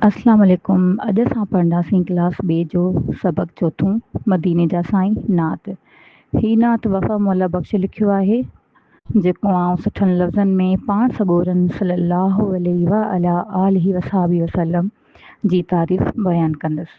اسلام عليڪم اڄ اسان پڙهنداسين ڪلاس ٻي جو سبق چوٿون مديني جا سائين نعت هي نعت وفا مولا بخش لکيو آهي جيڪو آئون سٺن لفظن ۾ پاڻ سڳورن صلي الله عليه وعلي آله وصحبه وسلم جي تعريف بيان ڪندس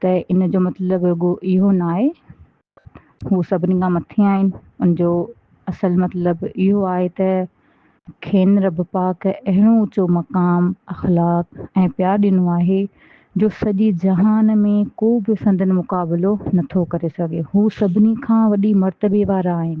ته ان جو مطلب رڳو اهو نه آهي هو سڀني کان مٿي آهن ان جو اصل مطلب اهو آهي ته کين رب پاڪ اهڙو اوچو مقام اخلاق ۽ پيار ڏنو آهي جو سڄي جهان ۾ ڪو به سندن مقابلو نٿو ڪري سگهي هو سڀني کان وڏي مرتبي وارا آهن.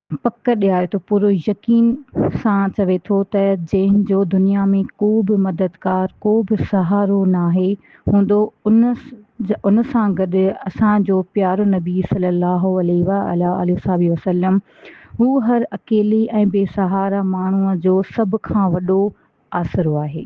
پڪ ڏياري ٿو، پورو يقين سان چوي ٿو ته جنهن جو دنيا ۾ ڪو به مددگار، ڪو به سهارو ناهي هوندو ان سان گڏ اسان جو پيارو نبي صلي الله عليه وعلي آله وصحبه وسلم هو هر اڪيلي ۽ بي سهارا ماڻهو جو سڀ کان وڏو آسرو آهي.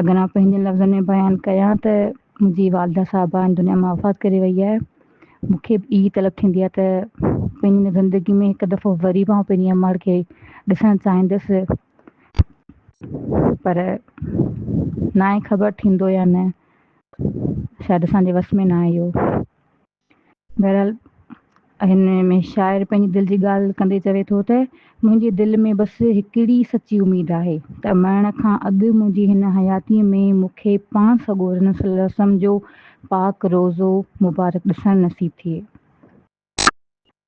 اگران پنهنجن لفظن ۾ بيان ڪيان ته منهنجي والده صاحبه هن دنيا مان وفات ڪري وئي آهي. مون کي به اهي طلب ٿيندي آهي ته پنهنجي هن زندگي ۾ هڪ دفعو وري به آئون پنهنجي امڙ کي ڏسڻ چاهيندس پر ناهي خبر ٿيندو يا نه شايد اسان جي وس ۾ ناهي اهو. بهرحال هن ۾ شاعر پنهنجي دل جي ڳالهه ڪندي چوي ٿو ته، منهنجي دل ۾ بس هڪڙي سچي اميد آهي ته مرڻ کان اڳ منهنجي هن حياتيء ۾ مون کي پاڻ سڳورن صلي الله وسلم جو پاڪ روضو مبارڪ ڏسڻ نصيب ٿئي.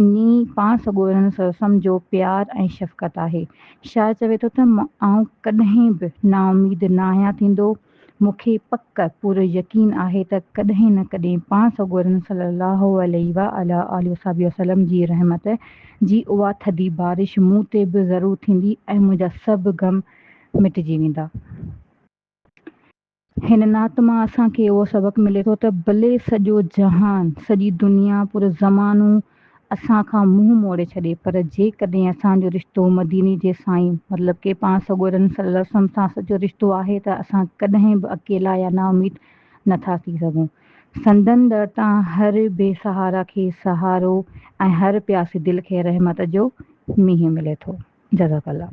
انهي پاڻ سڳورن سرسم جو پيار ۽ شفقت آهي. شاعر چوي ٿو ته آئون ڪڏهن به نااميد ناهيان ٿيندو. مون کي پڪ پورو يقين آهي ته ڪڏهن نه ڪڏهن پاڻ سڳورن صلّي اللّٰه عليه وعلٰي آله وصحبه وسلّم جي رحمت جي اها ٿڌي بارش مون تي به ضرور ٿيندي ۽ منهنجا سڀ غم مٽجي ويندا. هن نعت مان اسان کي اهو سبق ملي ٿو ته ڀلي سڄو جهان، سڄي دنيا، پورو زمانو اسان کان منهن موڙي ڇڏي پر جيڪڏهن اسان جو رشتو مديني جي سائين مطلب ڪي پاڻ سڳورن صلّي الله عليه وسلّم سان سچو رشتو آهي ته اسان ڪڏهن به اڪيلا يا نااميد نه ٿا ٿي سگهون. سندن در تان هر بي سهارا کي سهارو ۽ هر پياسي دل کي رحمت جو مينهن ملي ٿو. جزاڪ الله.